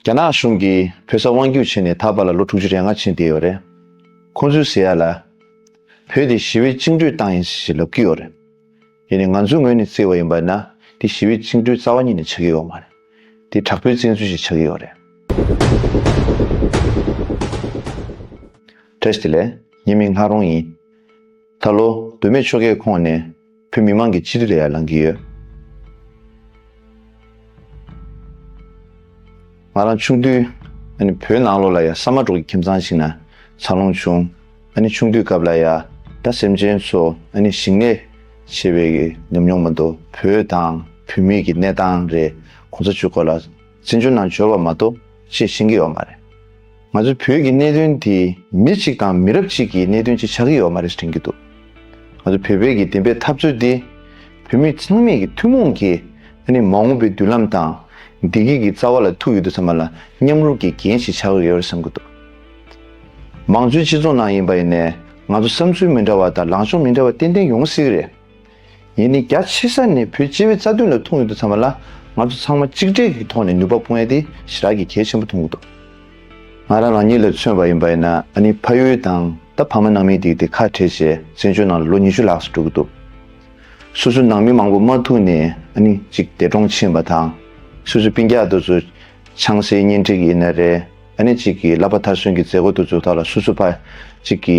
རྒྱ་ནག་གཞུང་གིས་བོད་ས་དབང་སྒྱུར་བྱས་ནས་ད་བར་ལ་ལོ་དྲུག་ཅུ་རེ་ལྔ་ཕྱིན་བསྡད་ཡོད་རེད། ཁོང་ཚོའི་ཟེར་ཡ་ལ། བོད་དེ་ཞི་བའི་བཅིངས་འགྲོལ་བཏང་ཡིན་ཞེས་ལབ་ཀྱི་ཡོད་རེད། ཡིན་ནའི་ང་ཚོའི་ངོས་ནས་བརྩི་བ་ཡིན་པ་ན་འདི་ཞི་བའི་བཅིངས་འགྲོལ་རྩ་བ་ཉིད་ནས་ཆགས་ཀྱི་ཡོད་མ་རེད། འདི་དྲག་པོའི་བཙན་འཛུལ་ཞིག་ཆགས་ཀྱི་ཡོད་རེད། བཀྲ་ཤིས་ལས། ངའི་མིང་ལྷ་རོང་ཡིན། ད་ལོ་སྡོད་མེད་ཆོལ་ཁའི་ཁོངས་ནས་བོད་མི་མང་གི་སྤྱི་ཐི་ལ་ཡར་ལངས་ཀྱི་ཡོད། ང་རང་ཆུང་དུས་བོད་ནང་ལོགས་ལ་ཡང་ས་མ་འབྲོག་གི་ཁྱིམ་ཚང་ཞིག་ན་འཚར་ལོངས་བྱུང། ཆུང་དུས་སྐབས་ལ་ཡང་དགྲ་སེམས་ཅན་ཚོ་ཞིང་ལས་བྱེད་པའི་ཉམས་མྱོང་མ་འདུག་བོད་དང་བོད་མིའི་གི་གནས་སྟངས་རེད་གོང་ས་ཆོས་འཁོར་ལ། བཙན་བྱོལ་ནང་འབྱོར་བ་མ་གཏོགས་ཅེས་བཤད་ཀྱི་ཡོད་མ་རེད། ང་ཚོའི་བོད་ཀྱི་གནད་དོན་དེ་མི་གཅིག་དང་མི་རབས་གཅིག་གི་གནད་དོན་ཅིག་ཆགས་ཀྱི་ཡོད་མ་རེད་དྲན་གྱི་འདུག་ང་ཚོ་བོད་པའི་གི་བདེན་པའི་འཐབ་རྩོད་འདི་བོད་མི་ཚང་མས་གི་ཐུན་མོང་གི་ཨ་ནི་མ་འོངས་པའི་མདུན་ལམ་དང་བདེ་སྐྱིད་ཀྱི་རྩ་བ་ལ་ཐུག་ཡོད་འདུག་ཚང་མ་ལ་མཉམ་རུབ་ཀྱི་འགན་ཞིག་ཆགས་ཀྱི་ཡོད་རེད་བསམ་གྱི་འདུག་མང་གཙོའི་སྤྱི་ཚོགས་ནང་ཡིན་པ་ཡིན་ནས་ང་ཚོ་བསམ་ཚུལ་མི་འདྲ་བ་དང་ལངས་ཕྱོགས་མི་འདྲ་བ་ཏན་ཏན་ཡོང་སྲིད་གི་རེད། ཡིན་ནི་རྒྱ་ཆེ་ས་ནས་བོད་སྤྱི་བའི་རྩ་དོན་ལ་ཐུག་ཡོད་འདུག་ཚང་མ་ལ་ང་ཚོ་ཚང་མ་གཅིག་སྒྲིལ་གྱི་ཐོག་ནས་ནུས་པ་སྤུངས་ཡ་དེ་ཞི་རག་གི་གལ་ཆེན་པོ་འཐུང་གི་འདུག། ང་རང་རང་ཉིད་ལ་མཚོན་པ་ཡིན་པ་ཡིན་ན་ཨ་ནི་ཕ་ཡུལ་དང་ད་ཕ་མ་ནང་མི་དེ་དེ་ཁ་བྲལ་བྱས་བཙན་བྱོལ་ནང་ལ་ལོ་ཉི་ཤུ་ལྷག་སུ་འགྲོ་གི་འདུག་སོ་སོའི་ནང་མི་མང་པོ་མ་ཐུག་ནས་ཨ་ནི་གཅིག་འདས་གྲོངས་ཕྱིན་པ་དང་སོ་སོའི་པིང་རྒྱག་དུ་ཚོ་ཆང་སའི་གཉེན་སྒྲིག་ཡིན་ན་རེད་ཨ་ནི་གཅིག་གི་ལ་ཕ་མཐར་སོན་གྱི་མཛད་སྒོ་དུ་ཚོ་དག་ལ་སོ་སོ་ཕ་གཅིག་གི།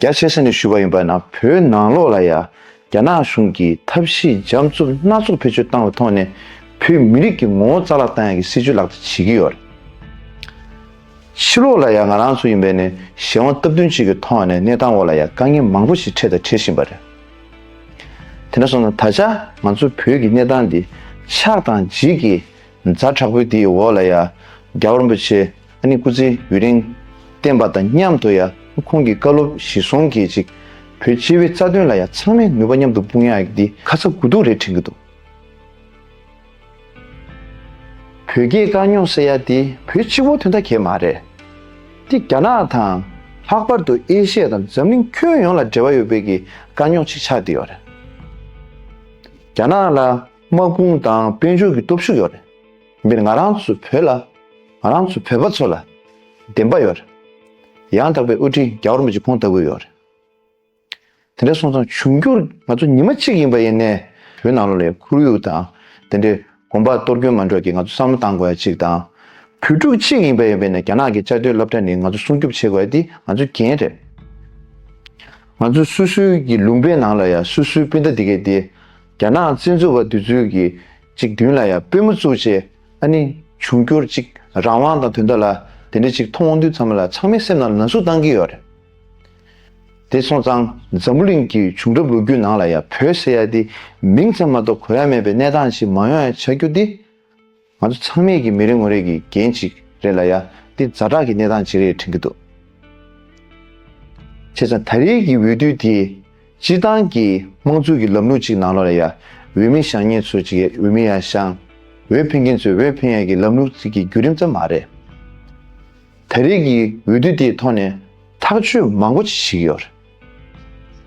རྒྱ་ཆེ་ས་ནས་ཞུས་པ་ཡིན་པ་ན་བོད་ནང་ལོགས་ལ་ཡ་རྒྱ་ནག་གཞུང་གིས་ཐབས་ཤེས་འཇམ་རྩུབ་སྣ་ཚོགས་བེད་སྤྱོད་བཏང་བའི་ཐོག་ནས་བོད་མི་རིགས་ཀྱི་ངོ་བོ་རྩ་བརླག་བཏང་ཡ་གི་སྲིད་བྱུས་ལག་བསྟར་བྱེད་ཀྱི་ཡོད་རེད། ཕྱི་ལོགས་ལ་ཡ་ང་རང་ཚོ་ཡིན་པས་ནས་གཞན་དབང་སྟབས་བསྟུན་གཅིག་གི་ཐོག་ནས་གནས་སྟངས་འོག་ལ་ཡ་དཀའ་ངལ་མང་པོ་ཞིག་འཕྲད་དང་འཕྲད་བཞིན་པ་རེད། དེ་འདྲ་སོང་ན་ད་ཆ་ང་ཚོ་བོད་ཀྱི་གནས་སྟངས་འདི་ཆགས་དང་འཇིག་གི་མཛའ་དྲག་པོའི་དེའི་འོག་ལ་ཡ་རྒྱ་རིན་པོ་ཆེ་ཨ་ནི་སྐུ་ཚེ་ཡུན་རིང་བརྟན་པ་དང་མཉམ་དུ་ཡང་ཁོང་གི་བཀའ་སློབ་གཞི་བཟུང་གིས་ཅིག་བོད་སྤྱི་བའི་རྩ་དོན་ལ་ཡང་ཚང་མས་ནུས་པ་མཉམ་དུ་སྤུངས་ཡག་འདི་ཁ་ཚ་དགོས་གཏུགས་རེད་དྲན་གི་འདུག། བོད་རྒྱའི་དཀའ་རྙོག་སེལ་ཡ་དེ་བོད་སྤྱི་བོ་དོན་ཐ་གས་མ་རེད་དེ་རྒྱ་ནག་དང་ལྷག་པར་དུ་ཨེ་ཤེ་ཡ་དང་འཛམ་གླིང་ཁྱོན་ཡོངས་ལ་འབྲེལ་བ་ཡོད་པའི་གི་དཀའ་རྙོག་ཅིག་ཆགས་དེ་ཡོད་རེད་རྒྱ་ནག་ལ་དམག་དཔུང་དང་དཔལ་འབྱོར་གི་སྟོབས་ཤུགས་ཡོད་རེད། འདིར་ང་རང་ཚོའི་བོད་ལ། ང་རང་ཚོའི་བོད་པ་ཚོ་ལ། བདེན་པ་ཡོད། ཡང་དག་པའི་དབུ་ཁྲིད་རྒྱ་གར་མི་གཅིག་ཁོང་ལྟ་བུ་ཡོད། དེ་འདྲའི་སོང་ཙང་འབྱུང་འགྱུར་ང་ཚོ་ཉི་མ་གཅིག་ཡིན་པ་ཡིན་ནས། བོད་ནང་ལོགས་ལས་ཁོར་ཡུག་དང་དེ་འདྲའི་གོམ་པ་གཏོར་སྐྱོན་མ་འགྲོ་གི་ང་ཚོ་བསམ་བློ་གཏང་དགོས་ཡ་གཅིག་དང། བོད་ཕྲུག་གཅིག་ཡིན་པ་ཡིན་པས་ནས་རྒྱ་ནག་གི་བཅའ་སྡོད་སློབ་གྲྭ་ནི་ང་ཚོ་སྲུང་སྐྱོབ་བྱེད་དགོས་ཡ་འདི་ང་ཚོའི་འགན་རེད། ང་ཚོ་སུ་སུའི་གི་ལུང་པའི་ནང་ལ་ཡ་སུ་སུའི་སྤུན་ཟླ་འདི་གས་འདི། རྒྱ་ནག་བཙན་འཛུལ་བ་འདི་ཚོའི་གི་ཅིག་མདུན་ལ་ཡང་པུས་མོ་བཙུགས་ཅེས་ཨ་ནི། འབྱུང་འགྱུར་ཅིག་རང་དབང་དང་དུས་འདའ་ལ། དེ་འདྲ་ཅིག་མཐོང་དབང་དུས་མཚམས་ལ་ཚང་མའི་སེམས་ནང་ལ་ན་ཟུག་བཏང་གི་ཡོད་རེད། དེ་སོང་ཙང་འཛམ་བུ་གླིང་གི་བྱུང་རབས་ལོ་རྒྱུས་ནང་ལ་ཡང་བོད་ཟེར་ཡ་དེ་མིང་ཙམ་མ་གཏོགས་གོ་ཡ་མེད་པའི་གནས་སྟངས་ཤིག་མང་ཡང་ཆགས་རྒྱུ་དེ། ང་ཚོ་ཚང་མས་ཀྱི་མི་རེ་ངོ་རེ་གི་འགན་ཅིག་རེད་ལ་ཡ་དེ་རྫ་དྲག་གི་གནས་སྟངས་ཅིག་རེད་དྲན་གི་འདུག་བྱས་ཙང་ད་རེས་ཀྱི་འོས་བསྡུ་དེ། སྤྱིར་བཏང་གི་དམངས་གཙོའི་གི་ལམ་ལུགས་གཅིག་ནང་ལོ་ལ་ཡ་འོས་མི་བཞག་ངེད་ཚོ་གཅིག་ཡ་འོས་མི་ཡ་བཞག། འོས་འཕེན་མཁན་ཚོས་འོས་འཕེན་ཡ་གི་ལམ་ལུགས་གཅིག་གི་བརྒྱུད་རིམ་ཙམ་མ་རེད། ད་རེས་གི་འོས་བསྡུ་དེའི་ཐོག་ནས་ཐག་གཅོད་མང་པོ་བྱེད་བཞིན་ཡོད།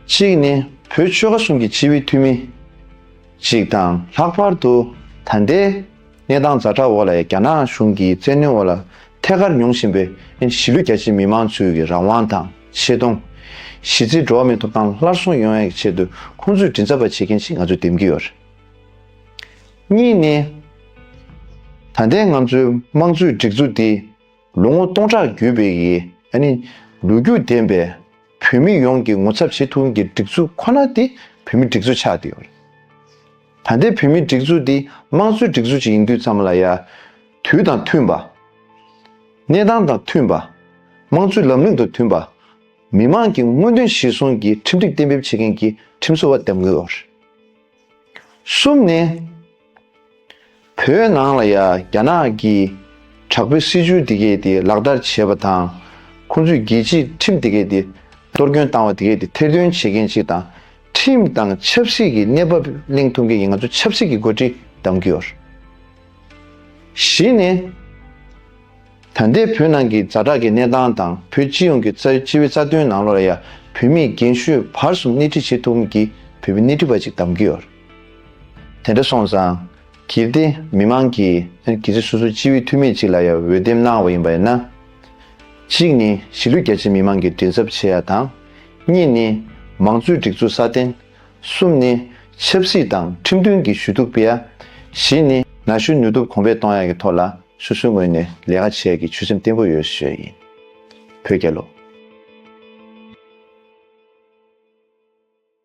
གཅིག་ནི་བོད་ཆོལ་ཁ་གསུམ་གྱི་སྤྱི་བའི་འཐུས་མི་གཅིག་དང་ལྷག་པར་དུ་ད་ལྟའི། གནས་སྟངས་རྫ་དྲག་འོག་ལ་ཡང་རྒྱ་ནག་གཞུང་གིས་བཙན་གནོན་འོག་ལ་ཐད་ཀར་མྱོང་བཞིན་པའི་གཞིས་ལུས་རྒྱ་ཆེའི་མི་མང་ཚོའི་གི་རང་དབང་དང་ཆེ་མཐོང། གཞིས་རྩེའི་འགྲོ་བ་མིའི་ཐོབ་ཐང་སླར་གསོ་ཡོང་ཡག་གི་ཆེད་དུ་ཁོང་ཚོས་མགྲིན་ཚབ་པ་བྱེད་མཁན་ཞིག་ང་ཚོས་འདེམས་ཀྱི་ཡོད་རེད། གཉིས་ནི། ད་ལྟའི་ང་ཚོའི་དམངས་གཙོའི་སྒྲིག་འཛུགས་འདི་ལོ་ངོ་སྟོང་ཕྲག་བརྒྱུད་པའི་གི་ལོ་རྒྱུས་ལྡན་པའི་བོད་མི་ཡོངས་ཀྱི་ངོ་ཚབ་བྱེད་ཐུབ་མཁན་གྱི་སྒྲིག་འཛུགས་ཁོ་ན་དེ་བོད་མི་སྒྲིག་འཛུགས་ཆགས་ཏེ་ཡོད་རེད། ད་ལྟའི་བོད་མིའི་སྒྲིག་འཛུགས་འདི་དམངས་གཙོའི་སྒྲིག་འཛུགས་ཅིག་ཡིན་དུས་ཙམ་ལ་ཡ། དུས་དང་མཐུན་པ། གནས་སྟངས་དང་མཐུན་པ། དམངས་གཙོའི་ལམ་ལུགས་དང་མཐུན་པ། མི་དམངས་ཀྱི་མངོན་འདོད་གཞིར་བཟུང་གིས་ཁྲིམས་སྒྲིག་གཏན་འབེབས་བྱེད་མཁན་གྱི་ཁྲིམས་བཟོ་བ་འདེམས་དགོས། གསུམ་ནས། བོད་ནང་ལ་ཡང་རྒྱ་ནག་གིས་དྲག་པོའི་སྲིད་བྱུས་དེ་གས་དེ་ལག་བསྟར་བྱས་པ་དང། ཁོང་ཚོས་རྒྱལ་སྤྱིའི་ཁྲིམས་དེ་གས་དེ་གཏོར་སྐྱོན་བཏང་བ་དེ་གས་དེ་ཐེར་འདོན་བྱེད་མཁན་ཞིག་དང། ཁྲིམས་དང་ཆབ་སྲིད་ཀྱི་གནས་བབ་གླེང་ཐུབ་མཁན་གྱི་ང་ཚོ་ཆབ་སྲིད་ཀྱི་འགོ་ཁྲིད་གདམ་གྱི་ཡོད། བཞི་ནི། ད་ལྟའི་བོད་ནང་གི་རྫ་དྲག་གི་གནས་སྟངས་དང་བོད་སྤྱི་ཡོངས་ཀྱི་སྤྱི་བའི་རྩ་དོན་ནང་ལོ་ལ་ཡང་བོད་མིའི་རྒན་ཤོས་བར་གསུམ་སྣེ་ཁྲིད་བྱེད་ཐུབ་མཁན་གྱི་བོད་པའི་སྣེ་ཁྲིད་པ་ཅིག་གདམ་གྱི་ཡོད། དེ་འདྲ་སོང་ཙང། གལ་ཏེ་མི་དམངས་ཀྱིས་གལ་སྲིད་སོ་སོའི་སྤྱི་བའི་འཐུས་མི་གཅིག་ལ་ཡང་འོས་འདེམས་གནང་བ་ཡིན་པ་ཡིན་ན། གཅིག་ནི་གཞིས་ལུས་རྒྱ་ཆེའི་མི་དམངས་ཀྱི་མགྲིན་ཚབ་བྱེད་ཡ་དང། གཉིས་ནི་མང་གཙོའི་སྒྲིག་འཛུགས་སྲ་བརྟན། གསུམ་ནི་ཆབ་སྲིད་དང་ཁྲིམས་མཐུན་གྱི་ཞུ་གཏུག་སྤེལ་ཡ། བཞི་ནི་ན་གཞོན་ནུས་སྟོབས་གོང་འཕེལ་གཏོང་ཡ་གི་ཐོག་ལ་སོ་སོའི་ངོས་ནས་ལས་ཀ་བྱེད་ཡ་གི་ཆོད་སེམས་བརྟན་པོ་ཡོད་ཞོད་ཡིན། བོད་རྒྱལ་ལོ།